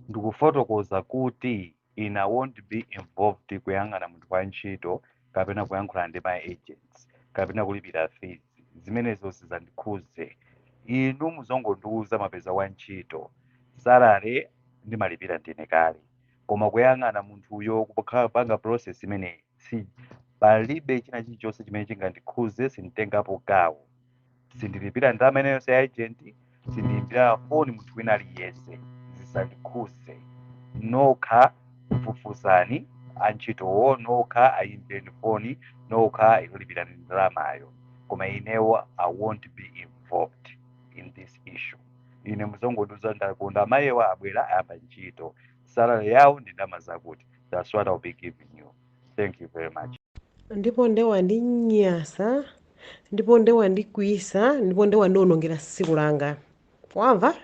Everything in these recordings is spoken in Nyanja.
ndikufotokoza kuti ine I won't be involved kuyang'ana munthu wa ntchito kapena kuyankhula ndi ma agents kapena kulipira fees zimenezo sizandikhuze inu muzongondiuza mapeza wa ntchito salary ndimalipira ndine kale koma kuyang'ana munthuyo kupanga panga process imeneyi si palibe china chilichonse chimene chingandikhuze sinditengapo gawo sindilipira ndalama ina iliyonse ya agent sindiyimbira foni munthu wina aliyense zisandikhuze nokha fufuzani antchitowo nokha ayimbireni foni nokha lipirani ndalamayo koma inewo i won't be involved in this issue ine muzongondiuza ndakonda amayiwa abwera ayamba ntchito salary yawo ndi ndalama zakuti that's what I'll be giving you thank you very much ndipo nde wandinyasa ndipo nde wandikwiyisa ndipo nde wandionongera tsiku langa wamva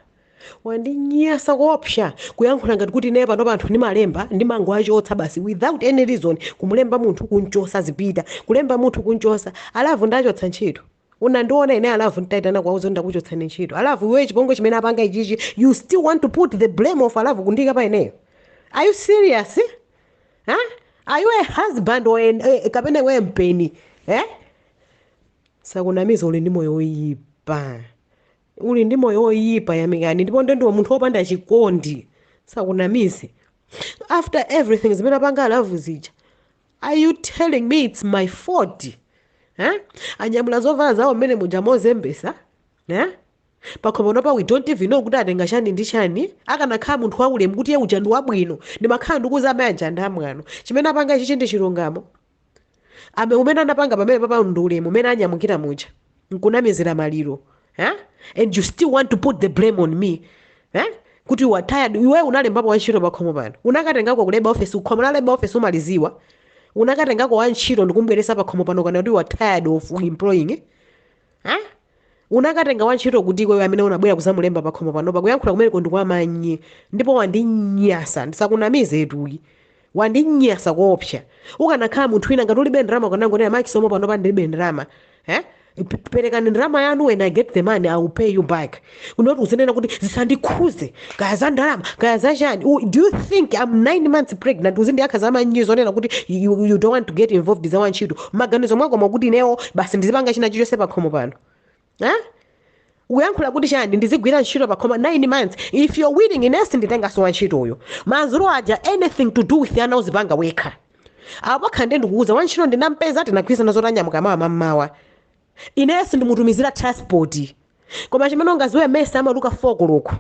wandinyasa koopsa kuyankhula ngati kuti ine pano anthu ndimalemba ndimangowachotsa basi without any reason kumulemba munthu kunchosa zipita kulemba munthu kunchosa alavu ndachotsa ntchito Unandiona ine alavu nditaitana kuwauza ndakuchotsani ntchito. Alavu iweyo chipongwe chimene apanga ichichi you still want to put the blame ya alavu kuyika pa ineyo. Are you serious? Huh? Are you a husband or an, eh, kapena iwe mpeni? Eh? Asakunamize uli ndi moyo woyipa. Uli ndi moyo woyipa Yamikani ndipo nde ndiwe munthu wopanda chikondi. Asakunamize. After everything zimene apanga alavu zija. are you telling me its my fault eh? anyamula zovala zawo mmene muja mozembesa eh? pakhomo pano we don't even know kuti atenga chani ndi chani akanakhala munthu waulemu kuti iye uja ndi wabwino ndimakhala ndikukuuza amayi aja ndi amwano chimene apanga ichichi ndi chilungamo umene wapanga pamenepapa ndi ulemu umene anyamukira muja nkunamizira maliro eh? and you still want to put the blame on me eh? kuti you are tired iwe unalembapo wantchito pakhomo pano unakatengako ku labour office khomo la labour office umaliziwa unakatengako wantchito ndikumubweresa pakhomo pano kunena kuti you are tired of employing eh? eh? unakatenga wantchito kuti iweyo amene unabwera kuzamulemba pakhomo pano kuyankhula kumeneko ndikwamanyi ndipo wandinyasa ndisakunamize ayi Wandinyasa koopsa. Ukanakhala munthu wina ngati ulibe ndalama ukanangonena ma Chisomo panopa ndilibe ndalama. Eh? P- Perekani ndalama yanu when I get the money I will pay you back. Not uzinena kuti zisandikhuze kaya za ndalama kaya za chani. U- Do you think I'm 9 months pregnant uzindiyakha za manyi zonena kuti you, you don't want to get involved za wantchito. Maganizo mwako mwakuti inewo basi ndizipanga china chilichonse pakhomo pano. eh? uyankhula kuti chani ndizigwira ntchito pakhomo 9 months if you're willing ine sinditengaso wantchitoyo masukulu aja anything to do with ana uzipanga wekha apapa nde ndikuuza wantchito ndinampeza tinagwirizana zoti anyamuka mawa mammawa ine sindimutumizira transport koma chimene ungaziwe mesa amaweluka 4 koloko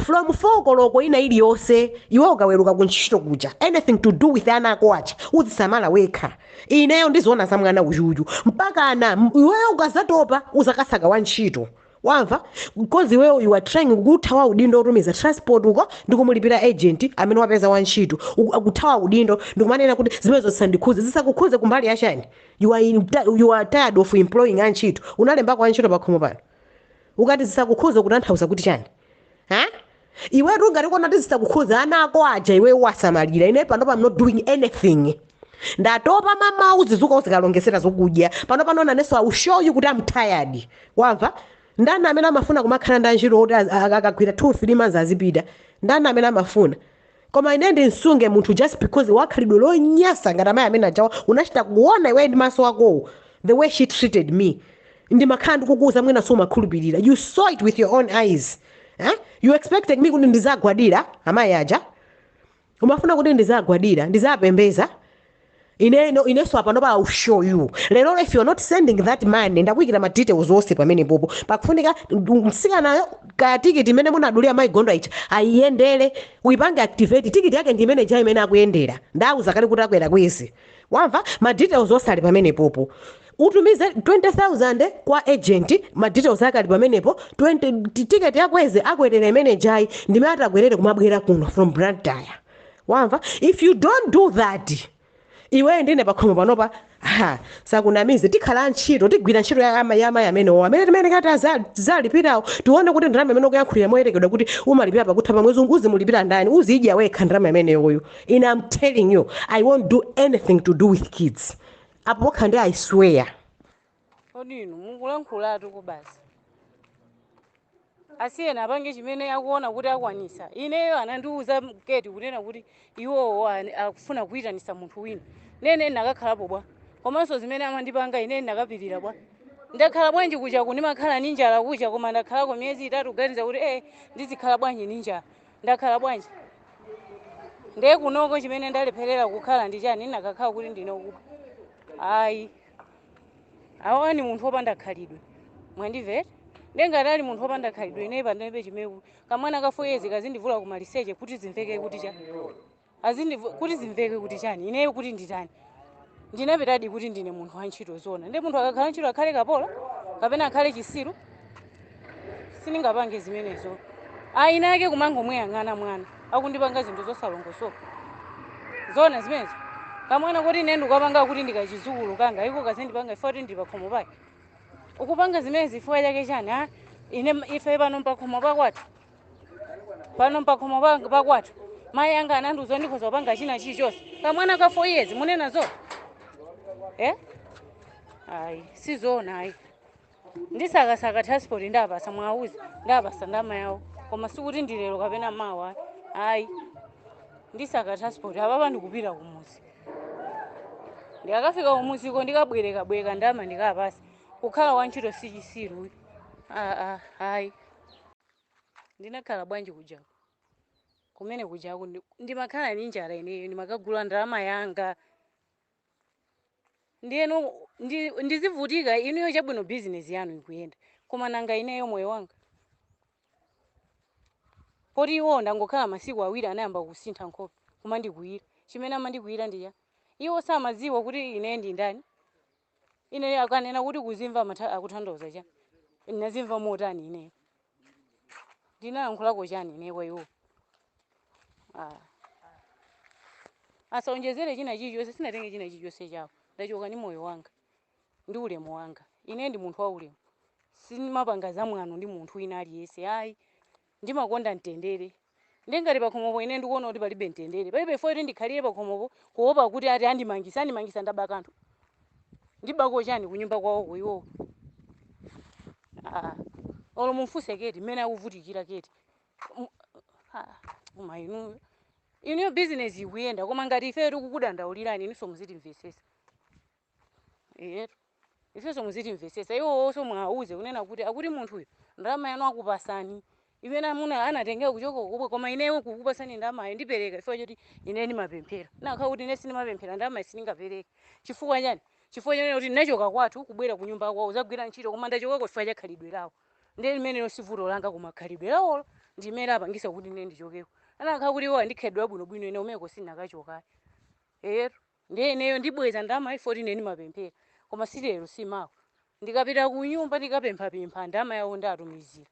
From 4 koloko ina iliyonse iwe ukaweruka ku ntchito kuja anything to do with ana ako aja uziwasamala wekha ineyo ndiziona za mwana uyuyu mpakana m- iweyo ukazatopa uzakasaka wa ntchito wamva because iweyo you are trying kuthawa udindo otumiza transport uko ndikumulipira agent amene wapeza wa ntchito Uku- akuthawa udindo ndikumanena kuti zimenezo zisandikhuze zisakukhuze kumbali yachani you are, in, you are tired of employing antchito unalembako antchito iweyo pakhomo pano ukati zisakukhuze ukutanthauza kuti chani ha iwe ukungotikana kuti zisakukhuze ana ako aja iwe uwasamalire ine pano pa am not doing anything ndatopa m'mawa uzizuka uzikawalongezera zokudya pano pano nanenso i will show you kuti am tired wamva ndani amene amafuna kumakhala ndi antchito oti az- a- akagwira 2 3 months azipita ndani amene amafuna koma ine ndimsunge munthu just because wakhalidwe lonyasa ngati amayi amene ajawo unachita kuona iweyo ndi maso akowo the way she treated me ndimakhala ndikukuuza mwinanso sumakhulupirira you saw it with your own eyes eh? you expected me kuti ndizagwadira amayi aja umafuna kuti ndizagwadira ndizapembeza ine ino ineso apano pa I'll show you lero if you're not sending that money ndakuyikira ma details onse pamene popo pakufunika ndu- mtsikanayo kaya tikiti imene munadulira mayi gondwa icha ayiyendere uyipange activate tikiti yake ndi imene ja imene akuyendera ndawuza kale kuti akwera kwezi wamva ma details onse ali pamene popo utumize 20000 kwa agent ma details ake ali pamenepo 20 tiketi ya kwezi akwerera imene jayi ndimene atakwerere kumabwera kuno from Blantyre wamva if you don't do that iweyo ndine pakhomo panopa ha usakunamize tikhala antchito tigwira ntchito ya ama- ya amayi amenewo amene timayerekeza aza- tizalipirawo tione kuti ndalama imene ukuyankhulira moyerekedwa kuti umalipira pakutha pa mwezi uzimulipira ndani uzidya wekha ndalama imeneyoyo ine am telling you i won't do anything to do with kids apo pokha nde i swear kodi inu mukulankhulatu kuti basi asiyeni apange chimene akuona kuti akwanisa ineyo anandiuza m'ngeti kunena kuti iwowo ani- akufuna kuyitanisa munthu wina nane ndinakakhalapo bwa komanso zimene amandipanga ine ndinakapirira bwa ndakhala bwanji kuja ku ndimakhala ni njala kuja koma ndakhalako miyezi itatu kuganiza kuti ee ndizikhala bwanji ni njala ndakhala bwanji ndiye kunoko chimene ndalepherera kukhala ndi chani ndinakakhala kuti ndine ukuba ayi awa ni munthu opanda khalidwe mwandimvera nde ngati ali munthu opanda khalidwe ineyi pandebe chimeku kamwana ka 4 years kazindivula kumaliseche kuti zimveke kuti cha azindivu- kuti zimveke kuti chani ineyo kuti nditani ndinapitadi kuti ndine munthu wa ntchito zoona nde munthu akakhala ntchito akhale kapolo kapena akhale chisiru sindingapange zimenezo ayi nake kumangomuyang'ana mwana akundipanga zinthu zosalongosoka zona zimenezo kamwana koti ine ndikapanga kuti ndi kachizukulu kanga iko kazindipanga ife kuti ndipakhomo pake ukupanga zimenezi chifukwa chake chani a ine ife pano mpakhomo pakwathu pano mpakhomo pa- pakwathu mayi anga anandiuza ndikhoza kupanga china chilichonse kamwana ka four years munenazo eh ayi sizona ayi ndisakasaka transport ndiwapasa muwauze ndiwapasa ndama yawo koma sikuti ndi lero kapena mawa ayi ndisaka transport apapa ndikupita kumuzi ndikakafika kumuziko ndikabwerekabwereka ndama ndikawapasa kukhala wantchito si chisiru uyu aa ayi ndinakhala bwanji kujako kumene kujako ndi- ndimakhala ndi njala ineyo ndimakagula ndalama yanga ndiyeno ndi, ndizivutika inuyo chabwino bizinesi yanu ikuyenda koma nanga ineyo moyo wanga poti iwo ndangokhala masiku awiri anayamba kusintha nkhope kumandikwiyira chimene amandikwiyira ndi cha iwo samadziwa kuti ine ndi ndani ine akanena kuti kuzimva akutanthauza cha ndinazimva motani ineyo ndinalankhulako chani ine kwa iwo Ah. asaonjezere china chilichonse sinatenge china chilichonse chawo ndachoka ndi moyo wanga ndi ulemu wanga ine ndi munthu wa ulemu simapanga zamwano ndi munthu wina aliyense ayi ndimakonda mtendere Ndiye ngati pakhomopo ine ndikuona kuti palibe mtendere, palibe chifukwa choti ndikhalire pakhomopo kuopa kuti ati andimangisa. Andimangisa ndaba kanthu? Ndibako chani kunyumba kwawoko iwowo? Ah, olo mumfunse keti mmene akuvutikira keti. M- ah, Koma inuyo inuyo bizinesi ikuyenda koma ngati ifeyo tikukudandaulirani inunso muzitimvetsetsa. Eyetu. Ifenso muzitimvetsetsa. Iwowonso muwauze kunena kuti akuti munthu uyo ndalama yanu akupasani imene amunawa anatengera kuchoka kukubwe koma ineyo kukupasani ndalamayo ndipereka chifukwa choti ine ndimapemphera. Ndinakhala kuti ine sindimapemphera ndalamayo sindingapereke. Chifukwa chani? Chifukwa chonena kuti ndinachoka kwathu kubwera kunyumba kwawo kudzagwira ntchito koma ndachokako chifukwa cha khalidwe lawo. Ndiye limenelo si vuto langa koma khalidwe lawolo ndi limene lapangitsa kuti ine ndichokeko. Anakhala kuti iwo ali ndi khalidwe labwinobwino ine kumeneko sindinakachokayi. Eyetu. Ndiye ineyo ndibweza ndalama ya 14 ndimapemphera koma si lero si mawa. Ndikapita kunyumba ndikapemphapempha ndalama yawo ndiwatumizira.